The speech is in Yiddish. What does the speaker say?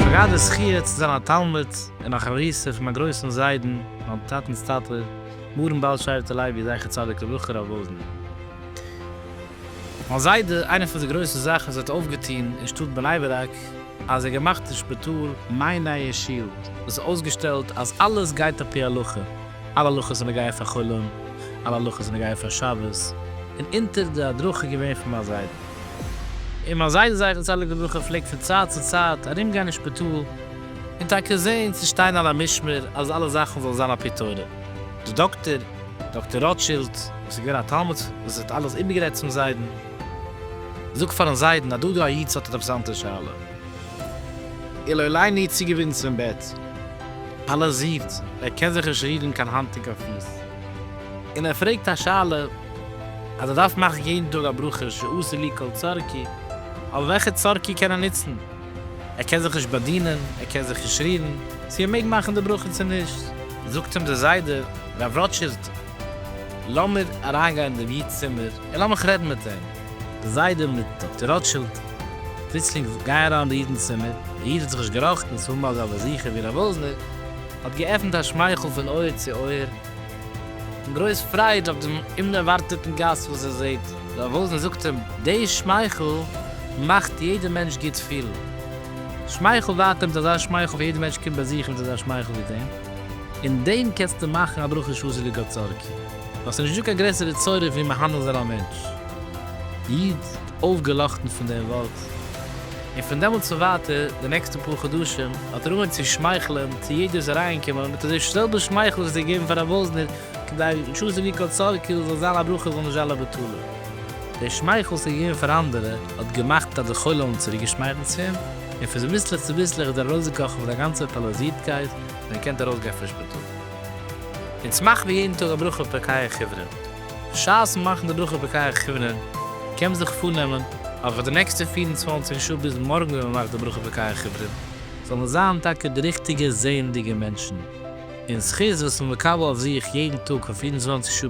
גראדע זכיה צו זיין א תלמיד און א חביר'סטע פון מיין גרויסן זיידן מיין טאטנ'ס טאטע מרן בעל שבט הלוי זכר צדיק לברכה רב וואזנער. מיין זיידע, איינע פון די גרויסע זאכן וואס ער האט אויפגעטון אין שטאט בני ברק, אז ער געמאכט אין שפיטאל מעין נייע שול וואס איז אויסגעשטעלט אז אלעס גייט עפ י הלכה, אלע הלכות זענען געווען פאר חולין, אלע הלכות זענען געווען פאר שבת, און אונטער די הדרכה געווען פון מיין זיידע. און מיין זיידע זכר צדיק לברכה פלעגט פון צייט צו צייט ארום גיין אין שפיטאל און טאקע זעהן צו שטיין על המשמר אז אלע זאכן זאלן זיין עפ י תורה. די דאקטער, דאקטער ראטשילד, וואס איז געווען א תלמיד וואס האט אלעס איבערגערעדט צום זיידן. זאג פארן זיידן אז דא דא א איד ס'האט עטוואס אנדערע שאלה. איר לא עליי ניר צוגעבינדן צום בעט. אלעס זיפט, ער קען זיך נישט רירן קיין האנט און קיין פוס. און ער פרעגט א שאלה אז ער דארף מאכן יעדן טאג א ברכה שעשה לי כל צרכי, אבער וועלכע צרכי קען ער נוצן? ער קען זיך נישט באדינען, ער קען זיך נישט רירן, צו ער מעג מאכן די ברכה צו נישט. זאגט אים דער זיידע, רב ראטשילד, לאמיר אריינגיין אין דעם איד'ס צימער און לאמיך רעדן מיט אים. די זיידע מיט דאקטער רוטשילד, פלוצלינג גייען אריין אין די איד'נס צימער. דער איד האט זיך נישט געראכטן צו האבן אזא באזוכער ווי רב וואזנער, האט געעפנט א שמייכל פון אויער צו אויער, און גרויס פרייד אויף דעם אומדערווארטעטן גאסט וואס ער זעט. רב וואזנער זאגט אים, די שמייכל מאכט יעדער מענטש גוט פילן. שמייכל ווייטער מיט אזא שמייכל, ווען יעדער מענטש קומט באזוכן מיט אזא שמייכל ווי דעם. אין דעם קענסטו מאכן א ברכה שאסור לגעת צורקי, ווייל ס'איז נישטא קיין גרעסערע צורה ווי מהנה זיין א מענטש. איד, אויפגעלאכטן פון דעם ווארט. און פון דעמאלטס און ווייטער, די נעקסטע פאר חדשים, האט ער אנגעהויבן צו שמייכלען צו יעדער וואס איז אריינגעקומען, מיט אזוי זעלבע שמייכל וואס ער האט געגעבן פאר רב וואזנער, כדי שאסור לגעת צורקי זאל זיין א ברכה זאל נישט זיין א בטלה. דער שמייכל וואס ער האט געגעבן פאר אנדערע, האט געמאכט אז די חולים האבן צוריקגעשמייכלט צו אים. און פון זיביסלעך צו ביסלעך איז ער ארויסגעקראכן פון זיין גאנצער פאלאזירטקייט און געקענט ארויסגיין פון שפיטאל. אונז מאכן ווי יעדן טאג א ברכה פרקיה כיוונין. בשעת'ן מאכן די ברכה פרקיה כיוונין קען מען זיך פארנעמען אז פאר די נעקסטע פֿיר און צוואַנציק שעה ביז מארגן ווען מען מאכט די ברכה פרקיה כיוונין זאל מען זיין טאקע די ריכטיגע זעענדיגע מענטשן און זכות וואס מען מקבל אויף זיך יעדן טאג פאר פֿיר און צוואַנציק שעה